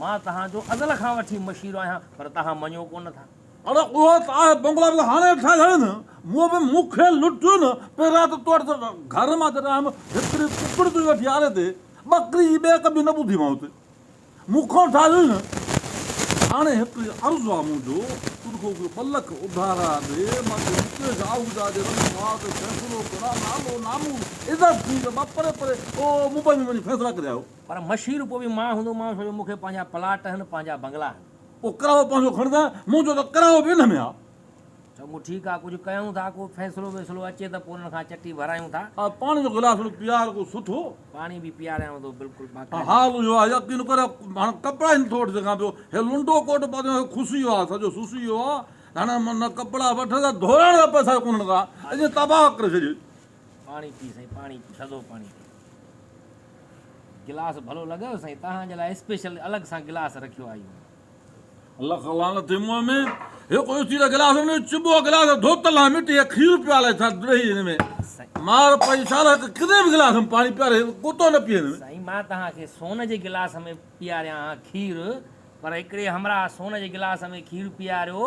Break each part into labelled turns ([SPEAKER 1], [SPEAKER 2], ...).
[SPEAKER 1] مان توهان جو ازل کان وٺي مشير آهيان، پر توهان مڃو ڪو نه ٿا. اڙي اهو ته آء
[SPEAKER 2] بنگلو به هاڻي ٺاهي ڇڏيم نه، مون به مون کي لٽيو نه، پئي رات تو وٽ ته گهر مان جڏهن آيم، هڪڙي ڪڪڙ تنهنجي وٺي آري تي، ٻڪري جي ٻيڪ به نه ٻڌي مان اتي، مون کان ٺاهي هئي نه. هاڻي هڪڙي عرض آ منهنجو، تو رکو اهي ٻه لک اڌارا ڏي، مان توکي مڪيش آهوجا جي رڳ مار تي فيصلو ڪران، نالو ناموس عزت تنهنجو ٻه پري پري، تو ممبئي ۾ وڃي فيصلا ڪري آيو. پر مشير پوء به
[SPEAKER 1] مان هوندومانس ڇو جو مون کي پنهنجا پلاٽ هن پنهنجا بنگلا هن. پوء ڪرايو پنهنجو
[SPEAKER 2] کڻندان مون چيو ته ڪرايو به ان ۾ آ. چڱو ٺيڪ
[SPEAKER 1] آ ڪجهه ڪيون ٿا ڪو فيصلو ويصلو اچي ته پوء انهن کان چٽي ڀرايون ٿا. آء پاڻي جو گلاس ٿورو
[SPEAKER 2] پيار ڪو سٺو. پاڻي به پياريانء
[SPEAKER 1] ٿو بلڪل باقاعدي. حال اهو آ
[SPEAKER 2] يقين ڪر هاڻ ڪپڙا ئي نٿو وٺي سگهان پيو هي لنڊو ڪوٽ پاتو آهي کسي ويو آ سڄو سسي ويو آ هاڻ نه ڪپڙا وٺ نه ڌوئڻ جا پئسا ئي ڪونهن ڪا اڃ تباهه ڪري ڇڏي. پاڻي پي
[SPEAKER 1] سائين پاڻي پي ٿڌو پاڻي پي گلاس ڀلو لڳيو سائين توهان جي لاء اسپيشل الڳ سان گلاس رکيو آهيون لک
[SPEAKER 2] لعنت ٿي منهن ۾ هڪ اوچي ته گلاس ۾ چبو گلاس ڌوت لا مٽي هي کير پيا لائي ٿا ڏهي هن ۾ مار پئي سال هڪ ڪني به گلاس ۾ پاڻي پياري ڪتو نه پي هن ۾ سائين مان توهان کي
[SPEAKER 1] سون جي گلاس ۾ پياريان ها کير پر هڪڙي همراهه سون جي گلاس ۾ کير پياريو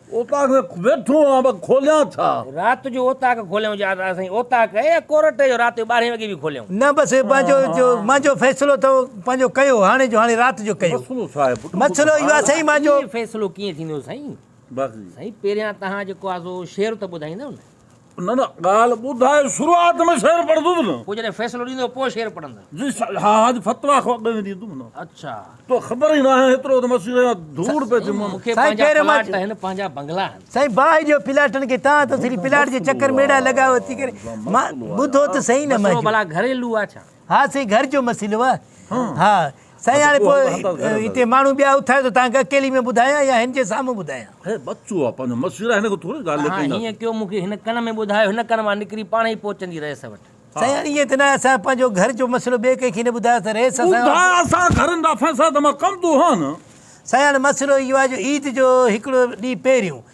[SPEAKER 3] اوطاق ۾ ويٺو
[SPEAKER 2] آهيان پر کوليان ڇا؟ رات جو اوطاق
[SPEAKER 1] کوليون جا ته سائين اوطاق ڪئي يا ڪورٽ جو رات جو ٻارهين وڳي به کوليون. نه بس هي پنهنجو
[SPEAKER 3] جو منهنجو فيصلو اٿو پنهنجو ڪيو هاڻي جو هاڻي رات جو ڪيو. مسئلو ڇا آهي پٽ؟ مسئلو اهو آهي سائين منهنجو. ائين فيصلو ڪيئن ٿيندو
[SPEAKER 1] سائين؟ سائين پهريان توهان جيڪو آهي سو شعر ته ٻڌائيندؤ نه. نه نه ڳالهه
[SPEAKER 2] ٻڌاء شروعات ۾ شعر پڙهندس نه. پوء جڏهن فيصلو ڏيندو پوء
[SPEAKER 1] شعر پڙهندس. جي شايد ها اڄ
[SPEAKER 2] فتويٰ کان اڳ ۾ ڏيندم نه. اڇا. تو
[SPEAKER 1] خبر ئي
[SPEAKER 2] ناهي هيترو ته مسيري مان ڌوڙ پئي ٿي مون. مون کي سائين پنهنجا پهريون مان پلاٽ
[SPEAKER 1] چ. آهن پنهنجا بنگلا آهن. سائين باهه ڏيو پلاٽن
[SPEAKER 3] کي تان ته سري پلاٽ جي چڪر ۾ اهڙا لڳاء اٿي ڪري مان ٻڌو ته سهي نه مسئلو مانجهو. ڀلا گهريلو آ ڇا؟
[SPEAKER 1] ها سائين گهر جو
[SPEAKER 3] مسئلو آ ها سائين هاڻي پوء هتي ماڻهو ٻيا اٿايو ته تهانکي اڪيلي ۾ ٻڌايان يا هن جي سامهون ٻڌايان هي بچو آ پنهنجو
[SPEAKER 2] مسئلو آ هن کي ٿوري ڳالهه ڪئي ها هيئن ڪيو مونکي هن
[SPEAKER 1] ڪن ۾ ٻڌايو هن ڪن مان نڪري پاڻ ئي پهچندي رئيس وٽ سائين هاڻي ائين ته نه اسان
[SPEAKER 3] پنهنجو گهر جو مسئلو ٻئي ڪنهن کي نه ٻڌايو ته رئيس اسان ٻڌاء اسان گهرن
[SPEAKER 2] جا فيصلا ته مان ڪندو هان نه سائين هاڻي مسئلو
[SPEAKER 3] اهو آ جو عيد جو هڪڙو ڏينهن پهريون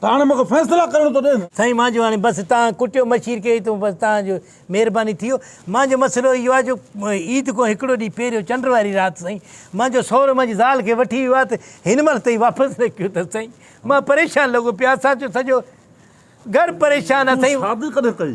[SPEAKER 2] ته هاڻي مون کي فيصلا ڪرڻ ٿو ڏين. سائين مانجو هاڻي بس
[SPEAKER 3] تان ڪٽيو مشير کي ته بس تان جو مهرباني ٿيو مانجو مسئلو اهو آ جو عيد کون هڪڙو ڏينهن پهريون چنڊ واري رات سائين مانجو سهرو مانجي زال کي وٺي ويو آ ته هن مهل تائين واپس نه ڪيو ٿس سائين مان پريشان لڳو پيو آ ساچو سڄو گهر پريشان آ سائين. تون شادي ڪڏهن ڪئي؟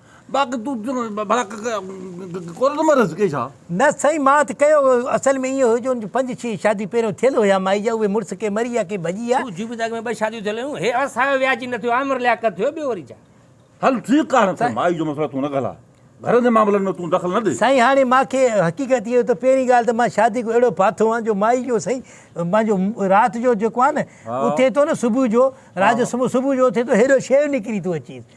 [SPEAKER 2] باقي تون ڀلا ڪونه ٿو مريس ڪي ڇا؟ نه سائين مان ته
[SPEAKER 3] ڪيو هو. اصل ۾ ائين هيو جو ان جون پنج ڇهه شاديون پهريون ٿيل هيا مائي جا اهي مڙس ڪي مري يا ڪي ڀڄي ويا. تون جون به ته اڳ ۾ ٻه شاديون ٿيل
[SPEAKER 1] هيون. هي عرصه آيو وياجي نه ٿيو عامر لياقت ٿيو ٻيو وري ڇا؟ هل ٺيڪ
[SPEAKER 2] آهي ته مائي جو مسئلو تون نه گهلا. گهر جي معاملن ۾ تون دخل نه ڏي. سائين هاڻي مان کي
[SPEAKER 3] حقيقت اهو ته پهرين ڳالهه ته مان شادي ڪو اهڙو ڦاٿو هئان جو مائي جو سائين پنهنجو رات جو جيڪو آهي نه اٿي ٿو نه صبح جو رات جو سمهو صبح جو اٿي ٿو هيڏو شيو نڪري ٿو اچيس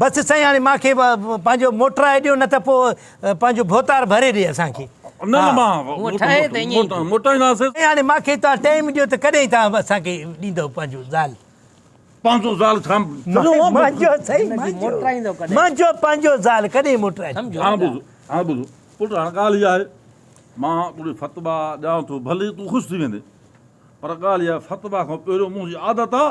[SPEAKER 2] بس سائين هاڻي
[SPEAKER 3] مان کي پنهنجو موٽرائي ڏيو نه ته پوء پنهنجو ڀوتار ڀري ڏي اسان کي. نه نه مان
[SPEAKER 1] موٽائينداسين. سائين هاڻي مان
[SPEAKER 2] کي توهان
[SPEAKER 3] ٽائيم ڏيو ته ڪڏهن توهان اسان کي ڏيندؤ پنهنجو زال. پنهنجو
[SPEAKER 2] زال ڇا منهنجو
[SPEAKER 3] سائين
[SPEAKER 1] منهنجو پنهنجو زال
[SPEAKER 3] ڪڏهن موٽرائيندؤ. هاڻ ٻڌ
[SPEAKER 1] هاڻ ٻڌ
[SPEAKER 2] پٽ هاڻ ڳالهه هيء آهي مان تون کي فتبا ڏيان ٿو ڀلي تون خوش ٿي ويندين پر ڳالهه هيء آهي فتبا کان پهريون منهنجي عادت آهي